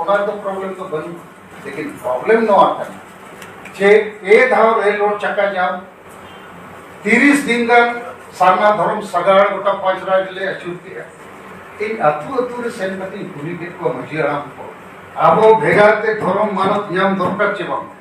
ᱚᱱᱟ ᱫᱚ ᱯᱨᱚᱵᱞᱮᱢ ᱫᱚ ᱵᱟᱹᱱᱩᱜ ᱞᱮᱠᱤᱱ ᱯᱨᱚᱵᱞᱮᱢ ᱱᱚᱣᱟ ᱠᱟᱱᱟ ᱡᱮ ᱯᱮ ᱫᱷᱟᱣ ᱨᱮᱞ ᱨᱳᱰ ᱪᱟᱠᱟ ᱡᱟᱢ ᱛᱤᱨᱤᱥ ᱫᱤᱱ ᱜᱟᱱ ᱥᱟᱨᱱᱟ ᱫᱷᱚᱨᱚᱢ ᱥᱟᱜᱟᱲ ᱜᱚᱴᱟ ᱯᱟᱸᱪ ᱨᱟᱡᱽ ᱞᱮ ᱟᱹᱪᱩᱨ ᱠᱮᱜᱼᱟ ᱤᱧ ᱟᱹᱛᱩ ᱟᱹᱛᱩ ᱨᱮ ᱥᱮᱱ ᱠᱟᱛᱮᱧ ᱠᱩᱞᱤ ᱠᱮᱫ ᱠᱚᱣᱟ ᱢᱟᱹᱡᱷᱤ ᱦᱟᱲᱟᱢ ᱠᱚ ᱟᱵᱚ ᱵᱷᱮᱜᱟᱨ ᱛᱮ ᱫᱷᱚᱨᱚᱢ ᱢᱟᱱᱚᱛ ᱧᱟᱢ ᱫᱚᱨᱠᱟᱨ ᱪᱮ ᱵᱟᱝ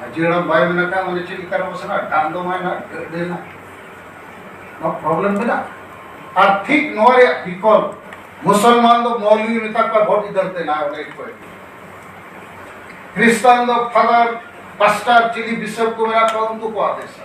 ᱢᱟᱹᱡᱷᱤ ᱦᱟᱲᱟᱢ ᱵᱟᱭ ᱢᱮᱱᱟᱜ ᱠᱷᱟᱱ ᱚᱸᱰᱮ ᱪᱮᱫ ᱞᱮᱠᱟ ᱨᱮᱵᱚ ᱥᱮᱱᱚᱜᱼᱟ ᱫᱟᱜ ᱫᱚ ᱵᱟᱭ ᱱᱟᱜ ᱜᱟᱹᱰᱤ ᱱᱟᱜ ᱱᱚᱣᱟ ᱯᱨᱚᱵᱞᱮᱢ ᱢᱮᱱᱟᱜᱼᱟ ᱟᱨ ᱴᱷᱤᱠ ᱱᱚᱣᱟ ᱨᱮᱭᱟᱜ ᱵᱤᱠᱚᱞᱯ ᱢᱩᱥᱚᱞᱢᱟᱱ ᱫᱚ ᱢᱚᱞᱤ ᱢᱮᱛᱟ ᱠᱚᱣᱟ ᱵᱷᱳᱴ ᱤᱫᱟᱹᱨ ᱛᱮ ᱱᱟ ᱚᱸᱰᱮ ᱠᱚ ᱠᱨᱤᱥᱛᱟᱱ ᱫᱚ ᱯᱷᱟᱫᱟᱨ ᱯᱟᱥᱴᱟᱨ ᱪᱤᱞᱤ ᱵᱤᱥᱚᱯ ᱠᱚ ᱢᱮᱱᱟᱜ ᱠᱚᱣᱟ ᱩᱱᱠᱩ ᱠᱚ ᱟᱫᱮᱥᱟ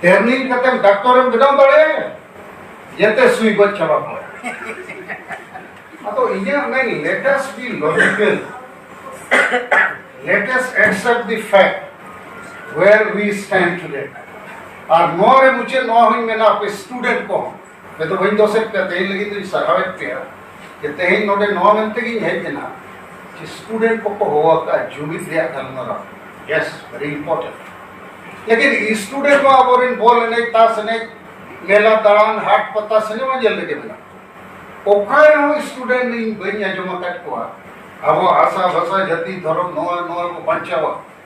ᱴᱨᱮᱱᱤᱝ ᱠᱟᱛᱮᱢ ᱰᱟᱠᱛᱚᱨᱮᱢ ᱵᱮᱱᱟᱣ ᱫᱟᱲᱮᱭᱟᱜᱼᱟ ᱡᱮᱛᱮ ᱥᱩᱭ ᱜᱚᱡ ᱪᱟᱵᱟ ᱠᱚᱣᱟ ᱟᱫᱚ ᱤᱧᱟᱹᱜ ᱢᱮᱱ let us be logical let us accept the fact where we stand today ᱟᱨ ᱱᱚᱣᱟ ᱨᱮ ᱢᱩᱪᱟᱹᱫ ᱱᱚᱣᱟ ᱦᱚᱧ ᱢᱮᱱᱟ ᱟᱯᱮ ᱥᱴᱩᱰᱮᱱᱴ ᱠᱚᱦᱚᱸ ᱱᱤᱛᱚᱜ ᱵᱟᱹᱧ ᱫᱚᱥᱮᱫ ᱯᱮᱭᱟ ᱛᱮᱦᱮᱧ ᱞᱟᱹᱜᱤᱫ ᱫᱚᱧ ᱥᱟᱨᱦᱟᱣᱮᱫ ᱯᱮᱭᱟ ᱡᱮ ᱛᱮᱦᱮᱧ ᱱᱚᱰᱮ ᱱᱚᱣᱟ ᱢᱮᱱᱛᱮ ᱜᱤᱧ ᱦᱮᱡ ᱮᱱᱟ ᱡᱮ ᱥᱴᱩᱰᱮᱱᱴ ᱠᱚᱠᱚ ᱦᱚᱦᱚ ᱟᱠᱟᱫᱼᱟ ᱡᱩᱢᱤᱫ ᱨᱮᱭᱟᱜ ᱜᱟᱞᱢᱟᱨᱟᱣ ᱭᱮᱥ ᱵᱷᱮᱨᱤ ᱤᱢᱯᱚᱨᱴᱮᱱᱴ ᱞᱮᱠᱤᱱ ᱥᱴᱩᱰᱮᱱᱴ ᱢᱟ ᱟᱵᱚᱨᱮᱱ ᱵᱚᱞ ᱮᱱᱮᱡ ᱛᱟᱥ ᱮᱱᱮᱡ ᱢᱮᱞᱟ ᱫᱟᱬᱟᱱ ᱦᱟᱴ ᱯᱟᱛᱟ ᱥᱤᱱᱮᱢᱟ ᱧᱮᱞ ᱨᱮᱜᱮ ᱢᱮᱱᱟᱜ ᱚᱠᱟ ᱨᱮᱦᱚᱸ ᱥᱴᱩᱰᱮᱱᱴ ᱤᱧ ᱵᱟᱹᱧ ᱟᱸᱡᱚᱢ ᱟᱠᱟᱫ ᱠᱚᱣᱟ ᱟᱵᱚ ᱟᱥᱟ ᱵᱷᱟᱥᱟ ᱡᱟᱹᱛᱤ ᱫᱷᱚᱨᱚᱢ ᱱᱚᱣᱟ ᱱᱚᱣᱟ ᱠᱚ ᱵᱟᱧᱪᱟᱣᱟ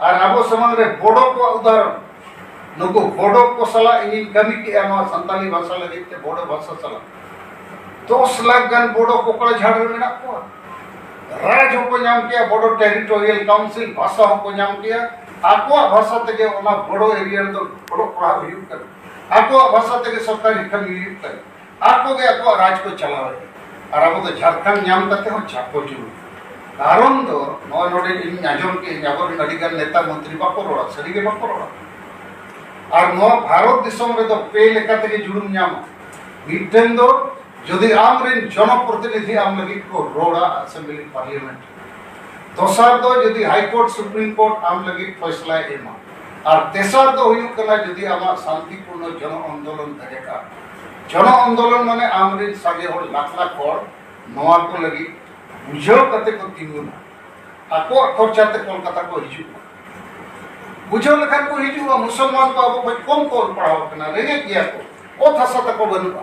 ᱟᱨ ᱟᱵᱚ ᱥᱟᱢᱟᱝ ᱨᱮ ᱵᱚᱰᱚ ᱠᱚᱣᱟᱜ ᱩᱫᱟᱦᱚᱨᱚᱱ ᱱᱩᱠᱩ ᱵᱚᱰᱚ ᱠᱚ ᱥᱟᱞᱟᱜ ᱤᱧᱤᱧ ᱠᱟᱹᱢᱤ ᱠᱮᱜᱼᱟ ᱱᱚᱣᱟ ᱥᱟᱱᱛᱟᱞᱤ ᱵᱷᱟᱥᱟ ᱞᱟᱹᱜᱤᱫ ᱛᱮ ᱵᱚᱰᱚ ᱵᱷᱟᱥᱟ ᱥᱟᱞᱟᱜ ᱫᱚᱥ ᱞᱟᱠᱷ ᱜᱟᱱ ᱵᱚᱰᱚ ᱠᱚᱠᱲᱟ ᱡᱷᱟᱲ ᱨᱮ ᱢᱮᱱᱟᱜ ᱠᱚᱣᱟ ᱨᱟᱡᱽ ᱦᱚᱸᱠᱚ ᱧᱟᱢ ᱠᱮᱜᱼᱟ ᱵᱚᱰᱚ ᱴᱮᱨᱤᱴᱳᱨᱤᱭᱟᱞ ᱠᱟᱣᱩᱱᱥᱤᱞ ᱵᱷᱟᱥᱟ ᱦᱚᱸᱠᱚ ᱧᱟᱢ ᱠᱮᱜᱼᱟ ᱟᱠᱚᱣᱟᱜ ᱵᱷᱟᱥᱟ ᱛᱮᱜᱮ ᱚᱱᱟ ᱵᱚᱰᱚ ᱮᱨᱤᱭᱟ ᱨᱮᱫᱚ ᱚᱞᱚᱜ ᱯᱟᱲᱦᱟᱜ ᱦᱩᱭᱩᱜ ᱠᱟᱱᱟ ᱟᱠᱚᱣᱟᱜ ᱵᱷᱟᱥᱟ ᱛᱮᱜᱮ ᱥᱚᱨᱠᱟᱨᱤ ᱠᱟᱹᱢᱤ ᱦᱩᱭᱩᱜ ᱠᱟᱱᱟ ᱟᱠᱚ ᱜᱮ ᱟᱠᱚᱣᱟᱜ ᱨᱟᱡᱽ ᱠᱚ ᱪᱟᱞᱟᱣᱮᱫ ᱟᱨ ᱟᱵᱚ ᱫᱚ ᱡᱷᱟᱲᱠᱷᱚᱸᱰ ᱧᱟᱢ ᱠᱟᱛᱮ ᱦᱚᱸ ᱪᱷᱟᱯᱚ ᱡᱩᱞᱩ ᱠᱟᱨᱚᱱ ᱫᱚ ᱱᱚᱣᱟ ᱱᱚᱰᱮ ᱤᱧ ᱟᱸᱡᱚᱢ ᱠᱮᱫ ᱟᱹᱧ ᱟᱵᱚᱨᱮᱱ ᱟᱹᱰᱤ ᱜᱟᱱ ᱱᱮᱛᱟ ᱢᱚᱱᱛᱨᱤ ᱵᱟᱠᱚ ᱨᱚᱲᱟ ᱥᱟᱹᱨᱤ ᱜᱮ ᱵᱟᱠᱚ ᱨᱚᱲᱟ ᱟᱨ ᱱᱚᱣᱟ ᱵᱷᱟᱨᱚᱛ ᱫᱤᱥᱚᱢ ᱨᱮᱫᱚ ᱯᱮ ᱞᱮᱠᱟ ᱛᱮᱜᱮ ᱡᱩᱞᱩᱢ ᱧᱟᱢᱟ ᱢᱤᱫᱴᱮᱱ ᱫᱚ ᱡᱩᱫᱤ ᱟᱢᱨᱮᱱ ᱡᱚᱱᱚᱯᱨᱚᱛᱤᱱᱤᱫᱷᱤ ᱟᱢ ᱞᱟᱹᱜᱤᱫ ᱠᱚ ᱨᱚᱲᱟ ᱟᱥᱮᱢᱵᱞᱤ ᱯᱟᱨᱞᱤᱭᱟᱢᱮᱱᱴ ᱫᱚᱥᱟᱨ ᱫᱚ ᱡᱩᱫᱤ ᱦᱟᱭ ᱠᱳᱨᱴ ᱥᱩᱯᱨᱤᱢ ᱠᱳᱨᱴ ᱟᱢ ᱞᱟᱹᱜᱤᱫ ᱯᱷᱚᱭᱥᱞᱟᱭ ᱮᱢᱟ ᱟᱨ ᱛᱮᱥᱟᱨ ᱫᱚ ᱦᱩᱭᱩᱜ ᱠᱟᱱᱟ ᱡᱩᱫᱤ ᱟᱢᱟᱜ ᱥᱟᱱᱛᱤᱯᱩᱨᱱᱚ ᱡᱚᱱ ᱟᱱᱫᱳᱞᱚᱱ ᱛᱟᱦᱮᱸ ᱠᱟᱱ ᱡᱚᱱ ᱟᱱᱫᱳᱞᱚᱱ ᱢᱟᱱᱮ ᱟᱢ ᱨᱮᱱ ᱥᱟᱸᱜᱮ ᱦᱚᱲ ᱞᱟᱠᱷ ᱞᱟᱠᱷ ᱦᱚᱲ ᱱᱚᱣᱟ ᱠᱚ ᱞᱟᱹᱜᱤᱫ ᱵᱩᱡᱷᱟᱹᱣ ᱠᱟᱛᱮ ᱠᱚ ᱛᱤᱸᱜᱩᱱᱟ ᱟᱠᱚᱣᱟᱜ ᱠᱷᱚᱨᱪᱟ ᱛᱮ ᱠᱚᱞᱠᱟᱛᱟ ᱠᱚ ᱦᱤᱡᱩᱜᱼᱟ ᱵᱩᱡᱷᱟᱹᱣ ᱞᱮᱠᱷᱟᱱ ᱠᱚ ᱦᱤᱡᱩᱜᱼᱟ ᱢᱩᱥᱚᱞᱢᱟᱱ ᱠᱚ ᱟᱵᱚ ᱠᱷᱚᱱ ᱠᱚᱢ ᱠᱚ ᱚᱞ ᱯᱟᱲᱦᱟᱣ ᱠᱟᱱᱟ ᱨᱮᱸᱜᱮᱡ ᱜᱮᱭᱟ ᱠᱚ ᱚᱛ ᱦᱟᱥᱟ ᱛᱟᱠᱚ ᱵᱟᱹᱱᱩᱜᱼᱟ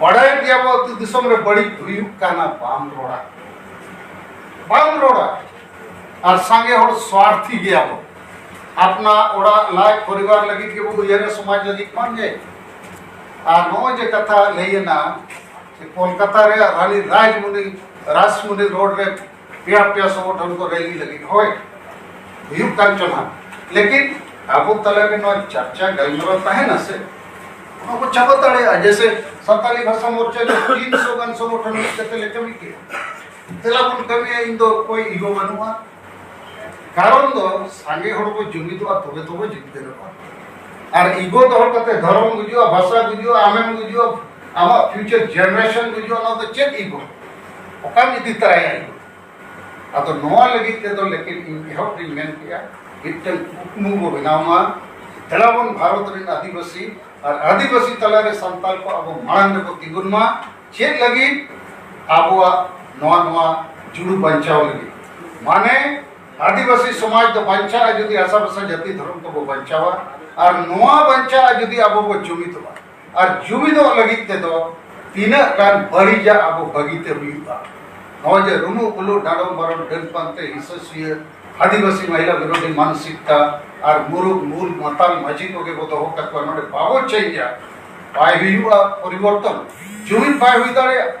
ᱵᱟᱰᱟᱭ ᱜᱮᱭᱟ ᱵᱚ ᱟᱹᱛᱩ ᱫᱤᱥᱚᱢ ᱨᱮ ᱵᱟᱹᱲᱤᱡ ᱦᱩᱭᱩᱜ ᱠᱟᱱᱟ ᱵᱟᱢ ᱨᱚᱲᱟ ᱵᱟᱢ ᱨᱚᱲᱟ ᱟᱨ ᱥᱟᱸᱜᱮ ᱦᱚᱲ ᱥᱣᱟᱨᱛᱷᱤ ᱜᱮᱭᱟ ᱵᱚ ᱟᱯᱱᱟ ᱚᱲᱟᱜ ᱞᱟᱡ ᱯᱚᱨᱤᱵᱟᱨ ᱞᱟᱹᱜᱤᱫ ᱜᱮᱵᱚ ᱩᱭᱦᱟᱹᱨᱟ ᱥᱚᱢᱟᱡᱽ ᱞᱟᱹᱜᱤᱫ ᱵᱟᱝ ᱜᱮ ᱟᱨ ᱱᱚᱜᱼᱚᱭ ᱡᱮ ᱠᱟᱛᱷᱟ ᱞᱟᱹᱭᱮᱱᱟ ᱠᱳᱞᱠᱟᱛᱟ ᱨᱮᱭᱟᱜ ᱨᱟᱱᱤ ᱨᱟᱡᱽᱢᱩᱱᱤ ᱨᱟᱥᱢᱩᱱᱤ ᱨᱳᱰ ᱨᱮ ᱯᱮᱭᱟ ᱯᱮᱭᱟ ᱥᱚᱝᱜᱚᱴᱷᱚᱱ ᱠᱚ ᱨᱮᱞᱤ ᱞᱟᱹᱜᱤᱫ ᱦᱳᱭ ᱦᱩᱭᱩᱜ ᱠᱟᱱ ᱪᱚ ᱱᱟᱜ ᱞᱮᱠᱤᱱ ᱟᱵᱚ ᱛᱟᱞᱟᱨᱮ ᱱᱚᱣᱟ ᱪᱟᱨᱪᱟ ᱜᱟᱞᱢᱟᱨᱟᱣ ᱛᱟᱦᱮᱱᱟ ᱥᱮ ᱚᱱᱟ ᱠᱚ ᱪᱟᱵᱟ ᱫᱟᱲᱮᱭᱟᱜᱼᱟ ᱡᱮᱥᱮ ᱥᱟᱱᱛᱟᱞᱤ ᱵᱷᱟᱥᱟ ᱢᱳᱨᱪᱟ ᱨᱮ ᱛᱤᱱ ᱥᱚ ᱜᱟᱱ ᱥᱚᱝᱜᱚᱴᱷᱚᱱ ᱢᱤᱫ ᱠᱟᱛᱮ ᱞᱮ ᱠᱟᱹᱢᱤ ᱠᱮᱫᱟ ᱛᱮᱞᱟ ᱵᱚᱱ ᱠᱟᱹᱢᱤᱭᱟ ᱤᱧ ᱫᱚ ᱚᱠᱚᱭ ᱤᱜᱚ ᱵᱟᱹᱱᱩᱜᱼᱟ ᱠᱟᱨᱚᱱ ᱫᱚ ᱥᱟᱸᱜᱮ ᱦᱚᱲ ᱠᱚ ᱡᱩᱢᱤᱫᱚᱜᱼᱟ ᱛᱚᱵᱮ ᱛᱚᱵᱮ ᱡᱤᱛᱠᱟᱹᱨᱚᱜᱼᱟ ᱟᱨ ᱤᱜᱚ ᱫᱚᱦᱚ ᱠᱟᱛᱮ ᱫᱷᱚᱨᱚᱢ ᱜᱩᱡᱩᱜᱼᱟ ᱵᱷᱟᱥᱟ ᱜᱩᱡᱩᱜᱼᱟ ᱟᱢᱮᱢ ᱜᱩᱡᱩᱜᱼᱟ ᱟᱢᱟᱜ ᱯᱷᱤᱭᱩᱪᱟᱨ ᱡᱮᱱᱟᱨᱮᱥᱚᱱ ᱜᱩᱡᱩᱜᱼᱟ ᱚᱱᱟ ᱫᱚ ᱪᱮᱫ ᱤᱜᱚ ᱚᱠᱟᱢ ᱤᱫᱤ ᱛᱟᱨᱟᱭᱟ ᱤᱧ ᱟᱫᱚ ᱱᱚᱣᱟ ᱞᱟᱹᱜᱤᱫ ᱛᱮᱫᱚ ᱞᱮᱠᱤᱱ ᱤᱧ ᱮᱦᱚᱵ ᱨᱤᱧ ᱢᱮᱱ ᱠᱮᱜᱼᱟ ᱢᱤᱫᱴᱟᱝ ᱠᱩᱠᱢᱩ ᱵᱚ ᱵᱮᱱᱟᱣ ᱢᱟ ᱫᱮᱞᱟ ᱵᱚᱱ ᱵᱷᱟᱨᱚᱛ ᱨᱮᱱ ᱟᱹᱫᱤᱵᱟᱹᱥᱤ ᱟᱨ ᱟᱹᱫᱤᱵᱟᱹᱥᱤ ᱛᱟᱞᱟᱨᱮ ᱥᱟᱱᱛᱟᱲ ᱠᱚ ᱟᱵᱚ ᱢᱟᱲᱟᱝ ᱨᱮᱵᱚ ᱛᱤᱸᱜᱩᱱ ᱢᱟ ᱪᱮᱫ ᱞᱟᱹᱜᱤᱫ ᱟᱵᱚᱣᱟᱜ ᱱᱚᱣᱟ ᱱᱚᱣᱟ ᱡᱩᱲᱩ ᱵᱟᱧᱪᱟᱣ ᱞᱟᱹᱜᱤᱫ ᱢᱟᱱᱮ ᱟᱹᱫᱤᱵᱟᱹᱥᱤ ᱥᱚᱢᱟᱡᱽ ᱫᱚ ᱵᱟᱧᱪᱟᱜᱼᱟ ᱡᱩᱫᱤ ᱟᱥᱟᱵᱷᱟᱥᱟ ᱡᱟᱹᱛᱤ ᱫᱷᱚᱨᱚᱢ ᱠᱚᱵᱚ ᱵᱟᱧᱪᱟᱣᱟ ᱟᱨ ᱱᱚᱣᱟ ᱵᱟᱧᱪᱟᱜᱼᱟ ᱡᱩᱫᱤ ᱟᱵᱚ ᱵᱚ ᱡᱩᱢᱤᱫᱚᱜᱼᱟ ᱟᱨ ᱡᱩᱢᱤᱫᱚᱜ ᱞᱟᱹᱜᱤᱫ ᱛᱮᱫᱚ ᱛᱤᱱᱟᱹᱜ ᱜᱟᱱ ᱵᱟᱹᱲᱤᱡᱟᱜ ᱟᱵᱚ ᱵᱟᱹᱜᱤᱛᱮ ᱦᱩᱭᱩᱜᱼᱟ ᱱᱚᱜᱼᱚᱭ ᱡᱮ ᱨᱩᱢᱩ ᱩᱞᱩ ᱰᱟᱸᱰᱚᱢ ᱵᱟᱨᱚᱱ ᱰᱟᱹᱱ ᱯᱟᱱᱛᱮ ᱦᱤᱥᱟᱹ ᱥᱩᱭᱟᱹ ᱟᱹᱫᱤᱵᱟᱹᱥᱤ ᱢᱟᱦᱤᱞᱟ ᱵᱤᱨᱳᱫᱷᱤ ᱢᱟᱱᱥᱤᱠᱛᱟ ᱟᱨ ᱢᱩᱨᱩᱠ ᱢᱩᱞ ᱢᱟᱛᱟᱞ ᱢᱟᱹᱡᱷᱤ ᱠᱚᱜᱮ ᱵᱚ ᱫᱚᱦᱚ ᱠᱟᱠᱚᱣᱟ ᱱᱚᱰᱮ ᱵᱟᱵᱚ ᱪᱮᱧᱡᱟ ᱵᱟᱭ ᱦᱩᱭᱩᱜᱼᱟ ᱯᱚᱨᱤᱵᱚᱨᱛᱚᱱ ᱡᱩᱢᱤᱫ ᱵᱟᱭ ᱦᱩᱭ ᱫᱟᱲᱮᱭᱟᱜᱼᱟ